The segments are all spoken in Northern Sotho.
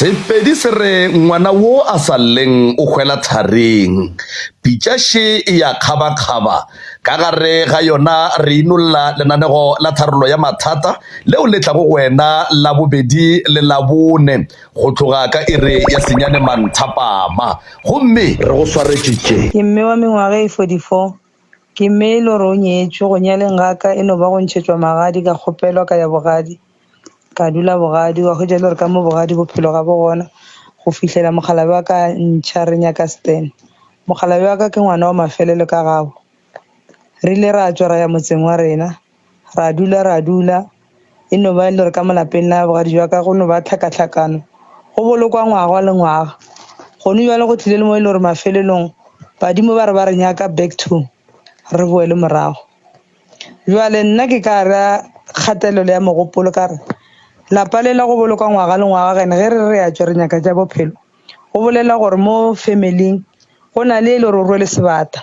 Sepedi se re ngwana wo a sa lleng o hwela tharing. Pitša še e ya kgabakgaba. Ka gare ga yona re inolla lenanego la tharollo ya mathata leo le tlago go wena Labobedi le Labone go tloga ka iri ya senyane manthapama. Gomme re go swaretše tše. Ke mme wa mengwaga e 44. Ke mme e le gore o nyetšwe, go nyaleng ga ka e no ba go ntšhetšwa magadi, ka kgopelwa ka ya bogadi, ka dula bogadi wa hwetša e le gore ka mo bogadi bophelo ga bo gona go fihlela mokgalabje wa ka a ntšha re nyaka Stan. Mokgalabje wa ka ke ngwana wa mafelelo ka gabo, re ile ra tšwa ra ya motseng wa rena. ra dula ra dula, e no ba e le gore ka mo lapeng la bogadi jwa ka go no ba tlhakatlhakano, go bolokwa ngwaga le ngwaga. Gone bjale go tlile le mo e le gore mafelelong badimo ba re ba re nyaka back to re boele morago. Bjale nna ke ka ra kgatelelo ya mogopolo ka re lapa le la go bolokwa ngwaga le ngwaga and ge re re ya tšwa re nyaka tša bophelo, go bolela gore mo family-ing go na le e le gore o rwele sebata.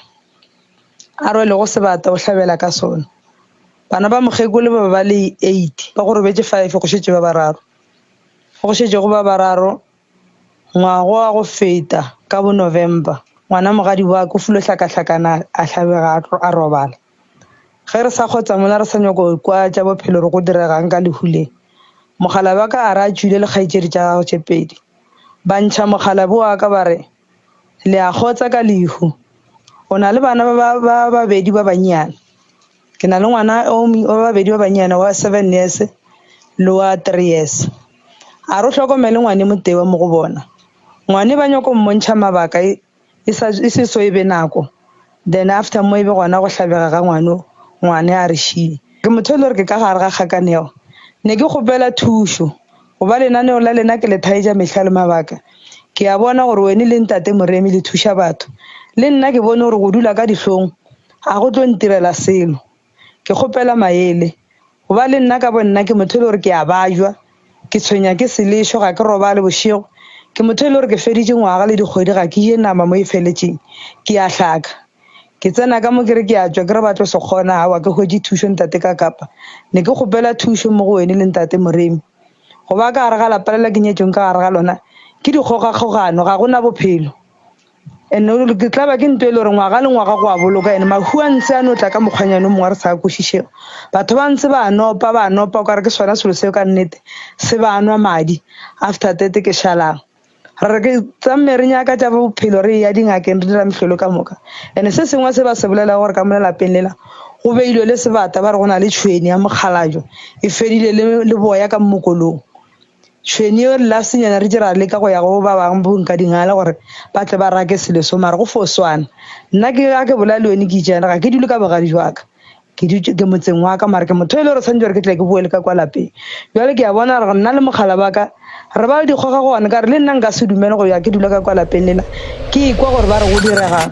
a rwelego sebata o hlabela ka sona. Bana ba mokgekolo ba be ba le 8, ba go robetše 5 go šetše ba bararo. Ge go šetše go ba bararo ngwago wa go feta ka bo November, ngwana mogadi wa ka o filwe hlakahlakana a hlabega a tlo a robala. Ge re sa kgotsa mola re sa nyako kwa tša bophelo gore go diregang ka lehu le, mokgalabje wa ka a re a tšwele le kgaetšedi tša gagwe tše pedi ba ntšha mokgalabje wa ka ba re, Le a kgotsa ka lehu? O na le bana ba ba babedi ba bannyane? Ke na le ngwana o wa babedi ba bannyane wa seven years le wa three years. A re o hlokomele ngwane mo tewa mo go bona. Ngwane ba nyako mmontšha mabaka e sa e se so e be nako. Then after mo ebe gona go hlabega ga ngwano ngwane a re šie. Ke motho e le gore ke ka gare ga kgakaneo. Ne ke kgopela thušo go ba lenaneo la lena ke le thaetša mehla le mabaka. Ke a bona gore wene le ntate Moremi le thuša batho. Le nna ke bone gore go dula ka dihlong ga go tlo ntirela selo. ke kgopela maele goba le nna ka bo nna ke motho e le gore ke a bajwa ke tshwenya ke selešo ga ke robale bošego ke motho e le gore ke feditše ngwaga le dikgwedi ga ke je nama mo e feletšeng ke a hlaka ke tsena ka mo ke re ke a tswa ke re ba tlo se kgona aowa ke hwetše thušo ntate ka kapa ne ke kgopela thušo mo go wene le ntate moremi goba ka gare ga lapa lela ke nyetsweng ka gare ga lona ke dikgogakgogano ga gona bophelo. And ke tla ba ke nto e le gore ngwaga le ngwaga go a boloka and mahu a ntse a no tla ka mokgwanyane o mongwe a re sa a kwešišego batho ba ntse ba nopa ba nopa o kare ke sona selo seo ka nnete se ba nwa madi after tete ke šalang re re ke tsamme re nyaka tša bophelo re ya dingakeng re dira mehlolo ka moka and se sengwe se ba se bolela gore ka mo lelapeng lela go beilwe le sebata ba re go na le tšhweni ya mokgalajo e fedile le boya ka mmokolong Tšhwene yeo re la senyana re dira leka go ya go ba bang bo nka dingala gore ba tle ba rake selo so mara go fo swana nna ke ga ke bola le yone ke itšana ga ke dule ka bogadi jwa ka ke dutše ke motseng wa ka mara ke motho e le gore tshwanetse gore ke tle ke boele ka kwa lapeng jale ke ya bona gore nna le mogala ba ka re ba le dikgoga go one ka re le nna nka se dumele go ya ke dula ka kwa lapeng lela ke ikwa gore ba re go diregang